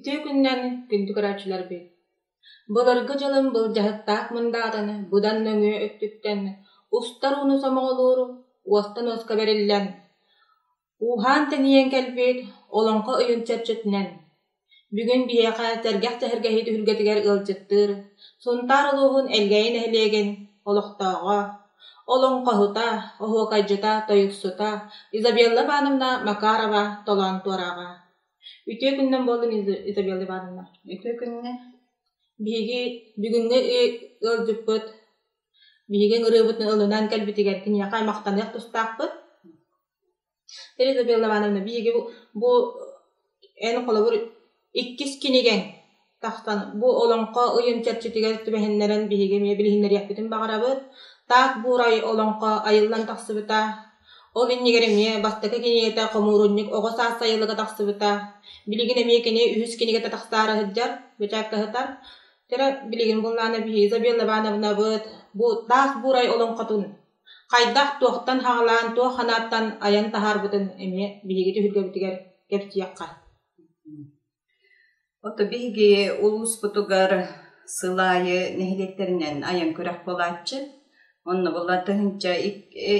Үтүө күннэн, күндү көрөөччүлэрбит! Былыргы дьылын былдьаһыктаах мындаатаны быдан нөҥүө өттүттэн устар ууну сомоҕолууру уостан уоска бэриллэн, Ууһаан тэнийэн кэлбит олоҥхо өйүн чэрчитинэн, бүгүн биһиэхэ сэргэх сэһэргэһии түһүлгэтигэр ыалдьыттыыр Сунтаар улууһун Элгээйи нэһилиэгин олохтооҕо, олоҥхоһута, оһуокайдьыта, тойуксута Изабелла Ивановна Макарова толоон туорааҕа. Үтүө күннэн буоллун, Изабелла Ивановна. Үтүө күннэ. Биһиги бүгүҥҥү ыалдьыппыт, биһиги ыҥырыыбытын ылынан кэлбитигэр киниэхэ махтаныах тустаахпыт. Елена Людмила Ивановна, биһиги бу эн холобур иккис кинигэҥ тахсан бу олоҥхо ыйын чэрчитигэр түбэһиннэрэн биһиги эмиэ билиһиннэриэхпитин баҕарабыт. Так Буурай олоҥхо айыллан тахсыбыта. Ол иннигэр эмиэ бастакы кинигэтэ «Хомуурунньук оҕо саас сайылыга» тахсыбыта. Билигин эмиэ кини үһүс кинигэтэ тахсаары сылдьар, бэчээккэ сытар. Билигин буллаана биһи Изабелла Ивановнабыт бу «Так Буурай» олоҥхотун хайдах, туохтан хаҕылаан, туох санааттан айан таһаарбытын эмиэ биһиги түһүлгэбитигэр кэпсиэххэ Ото биһиги улууспутугар сыл аайы нэһилиэктэринэн айан күрэх буолааччы. Онно була тыһыынча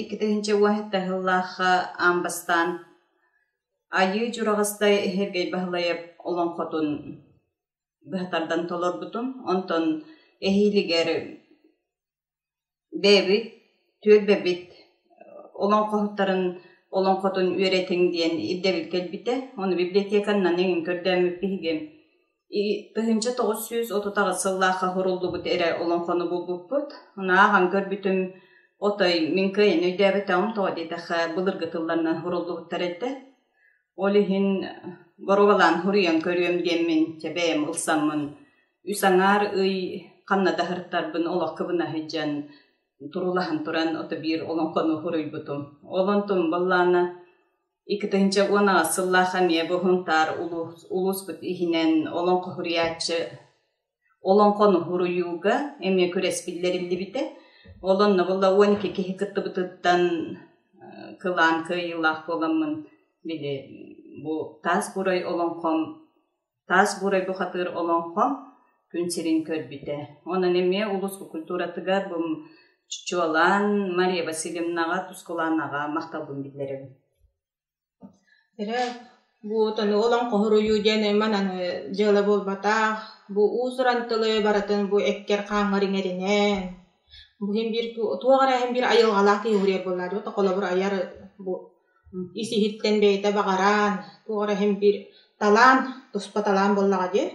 икки тыһыынча убаһыта сыллаахха аан бастаан Айыы Дьураҕастай Сергей Баһылаев олоҥхотун быһа тардан толорбутум. Онтон эһиилигэр Бэйэбит түөлбэбит олоҥхоһуттарын олоҥхотун үөрэтиҥ диэн ирдэбил кэлбитэ. Ону библиотеканнан эҥин көрдөөммүт биһиги тыһыынча тоҕус сүүс отут аҕыс сыллаахха суруллубут эрэ олоҥхону булбуппут. Ааҕан көрбүтүм отой мин кыайан өйдөөбөтөҕүм тоҕо диэтэххэ былыргы тылларынан суруллубуттар этэ. Ол иһин горуобалаан суруйан көрүөм диэммин, чэ бэйэм ылсаммын, үс аҥаар ый ханна да сырыттарбын олох кыбына сылдьан, турулаһан туран отобиир олоҥхону суруйбутум. Ол онтум баллаана икки тыһыынча уон аҕыс сыллаах эмиэ бу Сунтаар улуус улууспут иһинэн олоҥхо суруйааччы Олоҥхону уруйууга эмиэ күрэс биллэриллибитэ. Ол онно буолла уон икки киһи кыттыбытыттан кылаан кыайыылаах буоламмын били бу таас бурай олоҥхом таас бурай бухатыыр олоҥхом күн сирин көрбүтэ. Онон эмиэ улус культуратыгар бу чуолаан Мария Васильевнаҕа, Тускулаанаҕа махталбын биллэрэбин. Ирэ вот ону ылан хоһуруйуу диэн айман аны дьыала буолбатах, бу уус-уран тылы барытын бу эккэр хааҥҥар иҥэринэн, бу иһин биир туох эрэ иһин биир айылҕалаах киһи уһуруйар буоллаҕа дии, холобур айар бу ис иһиттэн бэйэтэ баҕараан, туох эрэ иһин биир талаан, туспа талаан буоллаҕа дии.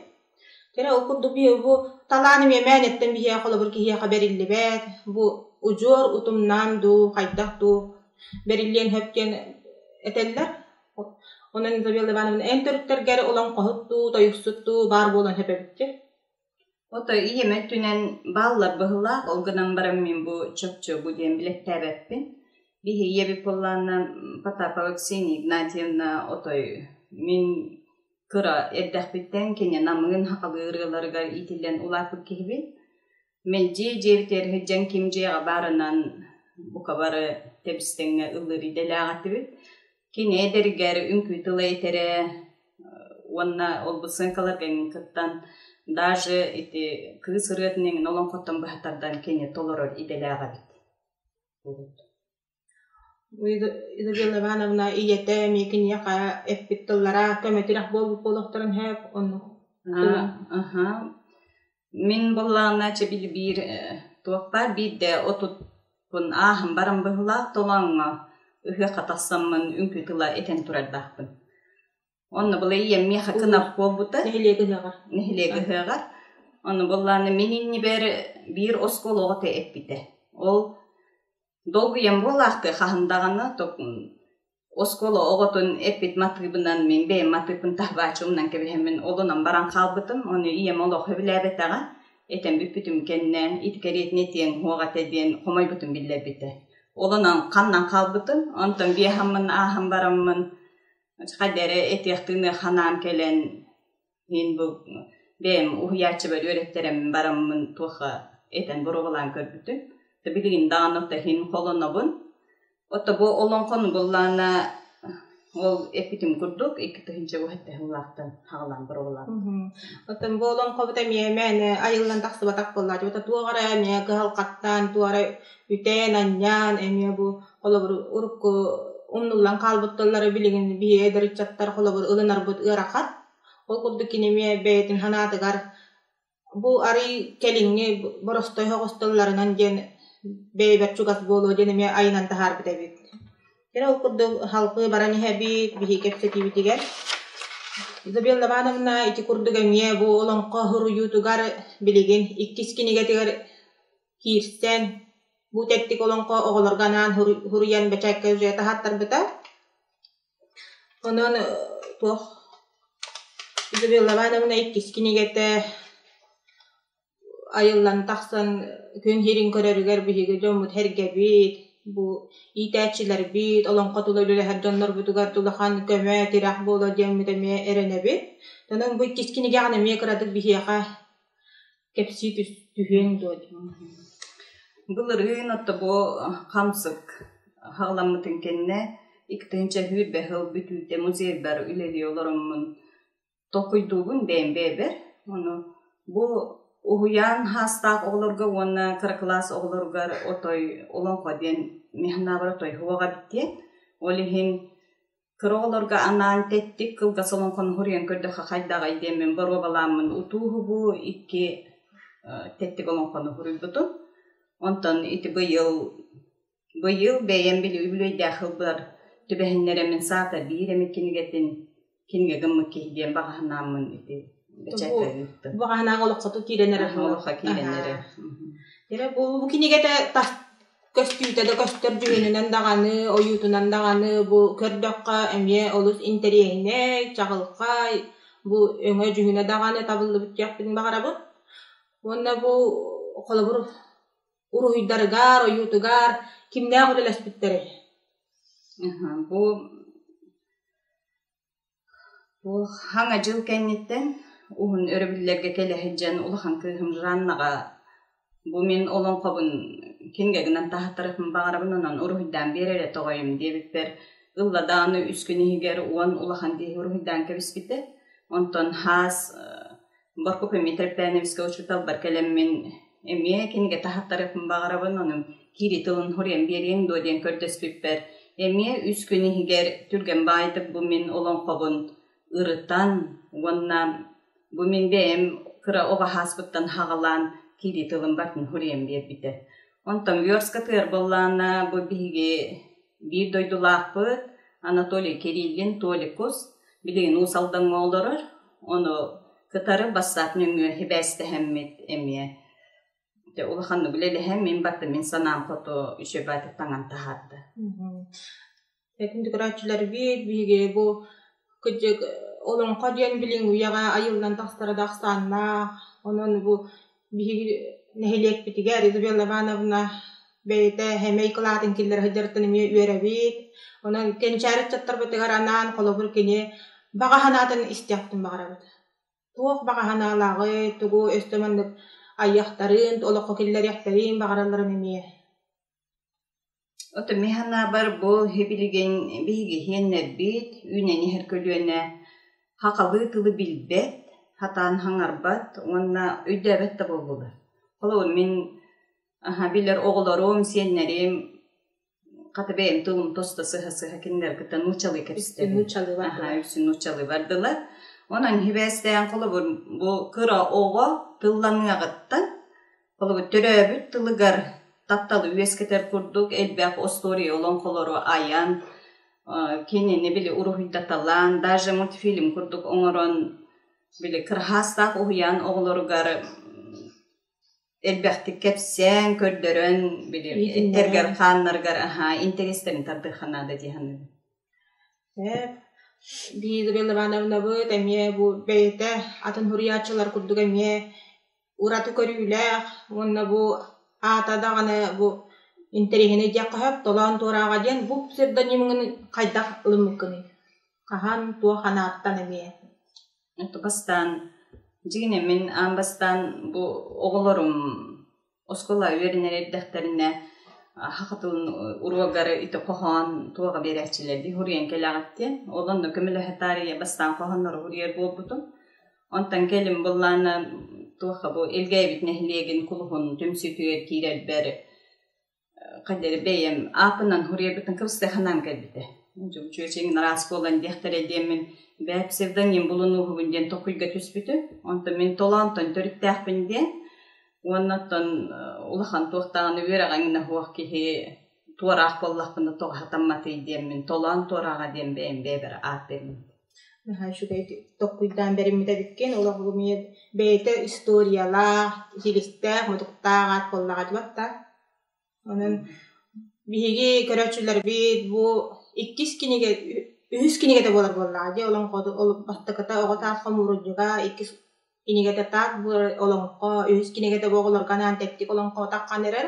Кэрэ ол курдук бу талаан эмиэ мээнэттэн биһиэхэ холобур киһиэхэ бэриллибэт, бу удьуор утумнаан дуу, хайдах дуу бэриллиэн сөп диэн этэллэр. Онон Изабелла Ивановна эн төрүттэргэ эрэ олоҥхоһут дуу, тойуксут дуу баар буолан сөп эбиккин. Ото ийэм өттүнэн бааллар быһыылаах, ол гынан баран мин бу чопчубу диэн билэттээбэппин. Биһи ийэбит буоллааннан Потапова Ксения Игнатьевна отой мин кыра эрдэхпиттэн кини намыын сахалыы ырыаларыгар иитиллэн улааппыт киһибин. Мин дьиэ дьиэбитигэр сылдьан ким дьиэҕэ баарынан бука бары тэбистэҥҥэ ыллыыр идэлээх этибит. Кини эдэригэр үҥкүү тыла этэрэ уонна ол бу сценкаларган кыттан даже ити кыыс ырыатын иҥин олоҥхоттон быһа тардан кини толорор идэлээх эбит. Людмила Ивановна ийэтэ эмиэ киниэхэ эппит тыллара көмөтүрэх буолбут буолуохтарын сөп оннук Мин быллааначча билбиир туохтаа биирдэ отутпун ааһан баран быһылаах толооҥҥо ыһыахха тахсаммын үҥкүү тыла этэн турардаахпын Онно была ийэм миэхэ кынап буолбута нэһилиэк ыһыаҕар. нэһилиэк ыһыаҕар. Ону буллааны мин иннибэр биир оскуолаҕа эппитэ. Ол долгуйан буолаахтыы хаһан даҕаны оскуола оҕотун эппит матыыбынан мин бэйэм матыыпын таһааччы умнан кэбиһэммин олунан баран хаалбытым. Ону ийэм олох өбүлээбэтэҕэ. Этэн бүппүтүм кэннэ ити кэриэтинэ этиэҥ уһуох этэ диэн хомойбутум биллэрбитэ. Олунан ханнан хаалбытын онтон биэһаммын ааһан бараммын Хадьа эрэ этиэхтиин санаан кэлэн мин бу бэйэм уһуйааччыбар үөрэттэрэн бараммын туохха этэн боруобалаан көрбүтүм. Билигин даҕаны оттон холонобун. Отто бу олоҥхону буллаана ол эппитим курдук икки тыһыынча буһатта сыллаахтан хаҕылаан боруобалаабытым. Оттон бу олоҥхобута эмиэ мээнэ айыллан тахсыбатах буоллааччы. Бата туох эрэ эмиэ кыһалҕаттаан туох эрэ үтээн анньаан эмиэ бу Холобур, урукку умнуллан хаалбытталлара билигин биһиги эдэр ыччаттар холобур ылынарбыт ыарахан. Ол курдук кини эмиэ бэйэтин санаатыгар бу арый кэлиҥҥи боростой оҕусталларынан диэн бэйэбэр чугас буолуо диэн эмиэ айынан таһаарбыт эбит. Кини ол курдук халкы баран иһэбит, биһиги кэпсэтиибитигэр Изабелла Ивановна ити курдук эмиэ бу олоҥхо суруйуутугар билигин иккис кинигэтигэр киирсэн, бу тэттик олоҥхо оҕолорго анаан хоруй- хоруйан бэчээккэ сюжета аһаттарбыта. Онон э, туох Изабелла Ивановна иккис кинигэтэ айыллан тахсан күн сирин көрөрүгэр биһиги дьоммут эргэбит, бу иитээччилэрбит олоҥхо тула үлэлэһэр дьоннорбутугар улахан көмө, тирэх буолуо диэммит эмиэ эрэнэбит. Онон бу иккис кинигэҕин эмиэ кыратык биһиэхэ Кэпсии түһүөҥ дуо Былырыын отто бу хамсык халаммытын кэннэ иккитинчэ сүүрбэ сыл бүтүүтэ музейбар үлэлии олороммун толкуйдуубун бэйэм бэйэбэр. Ону бу уһуйаан саастаах оҕолорго уонна кыра кылаас оҕолоругар отой олоҥхо диэн механабар отой суоҕа эбиттиэн. Ол иһин кыра оҕолорго анаан тэттик кылгас олоҥхону хоруйан көрдөххө хайдаҕай диэммин боруобалааммын утууһубу икки тэттик олоҥхону хоруйбутум онтон ити быйыл быйыл бэйэм били үбүлүөйдээх сылбар түбэһиннэрэммин саата биир эмит кинигэтин кинигэ гыммыт киһи диэн баҕаһынааммын ити бэчээккэ ыыттым баҕаһынааҕы олоххото киирэн эрэ олоххо киирэн эрэ бу кинигэтэ Көстүүтэ да көстөр дьүһүнүнэн даҕаны, ойуутунан даҕаны бу көрдөххө эмиэ олус интэриэһинэй, чаҕылхай, бу өҥө дьүһүнэ даҕаны табыллыбыт диэхпин баҕарабын. Уонна бу холобур уруһуйдарыгар, ойуутугар кимнээх үлэлэспиттэрэй? Бу Хаҥа дьыл кэнниттэн уһун өрөбүллэргэ кэлэ сылдьан улахан кыыһым Жаннаҕа бу мин олоҥхобун кинигэ гынан таһаттарыахпын баҕарабын онон уруһуйдаан биэрэрэ тоҕойум диэбиппэр ылла даҕаны үс күн иһигэр уон улахан киһи уруһуйдаан кэбиспитэ онтон хаас Боркупэммиитэрпээн эмискэ учууталбар кэлэммин эмиэ кинигэ таһаттарыахпын баҕарабын, онон киирии тылын хоруйан биэриэҥ дуо диэн көрдөспүппэр, эмиэ үс күн иһигэр түргэн баайдык бу мин олоҥхобун ырытан уонна бу мин бэйэм кыра оҕо ааспыттан хаҕылаан киирии тылым бартын хоруйан биэрбитэ. Онтон Верскатыгар буоллаҕына, бу биһиги биир дойдулаахпыт Анатолий Кириллин Толикус билигин Уус Алдаҥҥа олорор. Ону кытары бассаап нөҥүө сибээстэһэммит эмиэ дьэ улаханнык үлэлэһэн мин барыта мин санаам хоту үчүгэйдик таҥан таһаарда Этин тутарааччылар биир биһиги бу кырдьык олоҥхо диэн билиҥ үйэҕэ айыллан тахсара да ахсааннаах. Онон бу биһиги нэһилиэкпитигэр Изабелла Ивановна бэйэтэ сэмэй кылаатын киллэрэ сылдьарыттан эмиэ үөрэбит. Онон кэнчээри ыччаттарбытыгар анаан холобур кини баҕа санаатын истиэхпитин баҕарабыт. Туох баҕа санаалааҕый, тугу өстө маннык айыахтарын, олоххо киллэриэхтэрин баҕаралларын эмиэ. Отумми санаабар бу һи-билигин биһиги һиэннэрбит үүнэн иһэр көлүөнэ һакалыы тылы билбэт, сатаан хаҥарбат уонна өйдөөбөт да буоллулар. Холобур мин аһа билэр оҕолорум, сиэннэрим хата бэйэм тылым тосто сыһа-сыһа кинилэр кытта нуучалыы кэбистэбин. Үксүн нуучалыылар Аһа дылар. үксүн нуучалыылар дылар. Онон һибээстээн холобур бу кыра оҕо тылланыаҕыттан Төрөөбүт тылыгар тапталы үөскэтэр курдук элбэх остуоруйа олоҥхолору айан, кинини били уруһуйдаталаан, даже мультфильм курдук оҥорон били кырһаастаах уһуйаан оҕолоругар элбэхтик кэпсээн, көрдөрөн били эттэргэр-хааннарыгар аһаа интэриэстэрин тардыахха наада дии саныыбын. Лиза Ивановнабыт эмиэ бу бэйэтэ атын суруйааччылар курдук эмиэ ураты көрүүлээх уонна бу аата даҕаны бу интэриэһинэй диэххэ сөп толоон туорааҕа диэн бу псевдонимҥын хайдах ылыммыккыный хаһан туох анааттан эмиэ это бастаан дьиҥинэ мин аан бастаан бу оҕолорум оскуола үөрэнэр эрдэхтэринэ саха тылын уруогары ити хоһоон туоҕа биэрээччилэрдии суруйан кэлэҕиттиэн ол онно көмөлөһө таарыйа бастаан хоһооннору суруйар буолбутум Онтон кэлин быллааннаан туохха бу Илгээбит нэһилиэгин кулуһун түмсүүтүгэр киирэрбэр хайдары бэйэм ааппынан хуруйарбытын кыбыстыаханаан кэлбитэ. Чүөчэҥин араас буолан диэхтэрэй диэммин бээ псевдоним булунууһубун диэн токуйга түспүтүм. Онтон мин толоонтон төрүттээхпин диэн уонна оттон улахан туох даҕаны үөрэҕиҥнаһуох киһи туораах буоллахпына тоҕо сатамматый диэммин толоон туорааҕа диэн бэйэм бэйэбэр ааттыырбын Наһаа үчүгэйдик толкуйдаан бэриммит эбиккин. Олох эмиэ бэйэтэ историялаах, иһиликтээх, мутуктаах аат буоллаҕа дуот да? Онон биһиги көрөөччүлэрбит бу иккис кинигэ, үһүс кинигэтэ буолар буоллаҕа дии. Олоҥхону, ол бастакыта оҕо таас хомуурунньуга иккис кинигэтэ таат бу олоҥхо үһүс кинигэтэ бу оҕолорго анаан тэттик олоҥхо атаххан эрэр.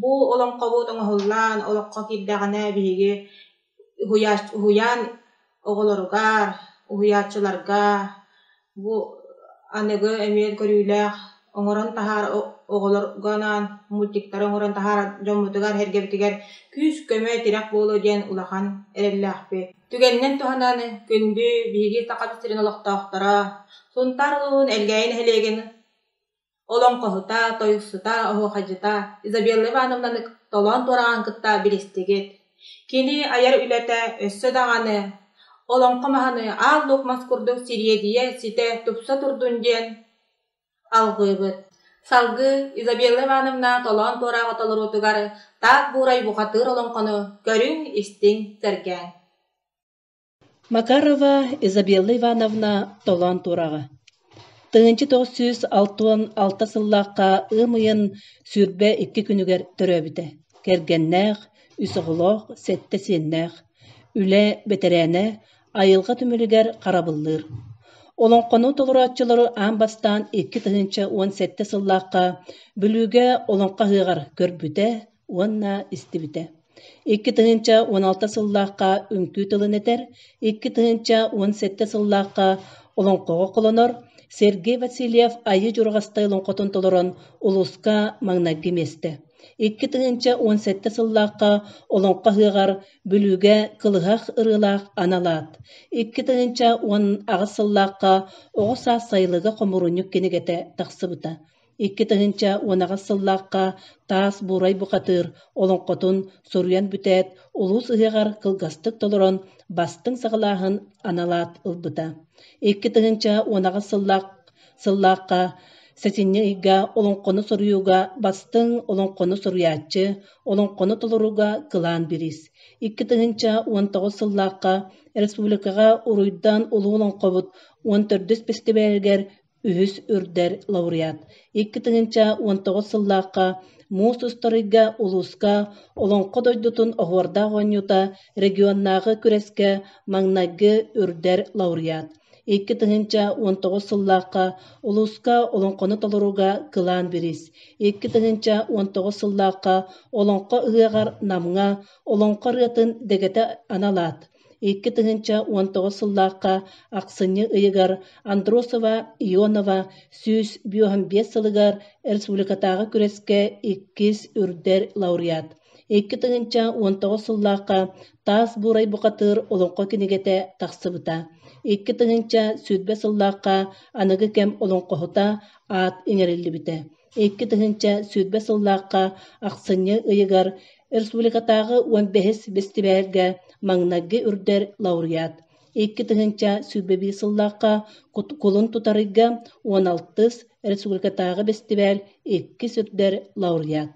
Бу олоҥхобут оҥоһуллан олоххо киирдэҕинэ биһиги уһуйач уһуйаан оҕолоруга, уһуйааччыларга бу аныгы эмиэ көрүүлээх оҥорон таһаарар оҕолорго анаан мультиктары оҥорон таһаарар дьоммутугар, эргэбитигэр күүс-көмө, тирэх буолуо диэн улахан эрэллээхпит. Түгэнинэн туһанан күндү биһиги Саха сирин олохтоохторо Сунтаар улууһун Элгээйи нэһилиэгин олоҥхоһута, тойуксута, оһуохайдьыта Изабелла Ивановнаны толоон туораҕан кытта билистигит. Кини айар үлэтэ өссө даҕаны олоҥхо маһаны аал-нук мас курдук сириэдийэ ситэ тупса турдун диэн алҕыыбыт. Салгыы Изабелла Ивановна толоон туораҕы толоруутугар таах буурай бухатыыр олоҥхону көрүҥ-истиҥ, сэргээҥ Макарова Изабелла Ивановна толоон туораҕа Тыһыынча тоҕус сүүс алта уон алта сыллаахха ыам ыйын сүүрбэ икки күнүгэр төрөөбүтэ, кэргэннээх, үс оҕолоох, сэттэ сиэннээх, үлэ бэтэрээнэ, айылҕа түмүлүгэр харабыллыыр. Олоҥхону толорооччулары аан бастаан икки тыһыынча уон сэттэ сыллаахха Бүлүүгэ Олоҥхо ыһыаҕар көрбүтэ, уонна истибитэ икки тыһыынча уон алта сыллаахха үҥкүү тылын этэр, икки тыһыынча уон сэттэ сыллаахха олоҥхоҕо холонор Сергей Васильев Айыы Дьурҕастай олоҥхотун толорон улууска маҥнайгы миэстэ. Икки тыһыынча уон сэттэ сыллаахха Олоҥхо ыһыаҕар Бүлүүгэ кылыһах ырыалаах аналаат, икки тыһыынча уон аҕыс сыллаахха Оҕо саас сайылыга хомуурунньук кинигэтэ тахсыбыта. Икки тыһыынча уон аҕыс сыллаахха таас буурай бухатыыр олоҥхотун суруйан бүтээт, улуус ыһыаҕар кылгастык толорон, бастыҥ саҕалааһын аналаат ылбыта. Икки тыһыынча уон аҕыс сыллаах сыллаахха сэтинньи ыйга олоҥхону суруйууга бастыҥ олоҥхону суруйааччы, олоҥхону толорууга кылаан бириис. Икки тыһыынча уон тоҕус сыллаахха республикаҕа Уруйдан улуу олоҥхобут уон төрдүс бэстибээлигэр Үһүс үрдэр лауреат икки тыһыынча уон тоҕус сыллаахха муус устарыйга улууска Олоҥхо дойдутун оһуордаах оонньуута регионнааҕы күрэскэ маҥнайгы үрдэр лауреат икки тыһыынча уон тоҕус сыллаахха улууска олоҥхону толорууга кылаан бириис икки тыһыынча уон тоҕус сыллаахха Олоҥхо ыһыаҕар Намҥа Олоҥхо ырыатын дэгэтэ анал аат Икки тыһыынча уон тоҕус сыллаахха ахсынньы ыйыгар Андросова Ионова сүүс бүөһүн биэс сылыгар республикатааҕы күрэскэ иккис үрдэр лауреат, икки тыһыынча уон тоҕус сыллаахха Таас Буурай бухатыыр олоҥхо кинигэтэ тахсыбыта, икки тыһыынча сүүрбэ сыллаахха аныгы кэм олоҥхоһута аат иҥэриллибитэ, икки тыһыынча сүүрбэ сыллаахха ахсынньы ыйыгар Республикатааҕы уон бэһис бэстибээлгэ маҥнайгы үрдэр лауреат, икки тыһыынча сүүрбэ биир сыллаахха кулун тутарыйга уон алтыс, республикатааҕы бэстибээл иккис үрдэр лауреат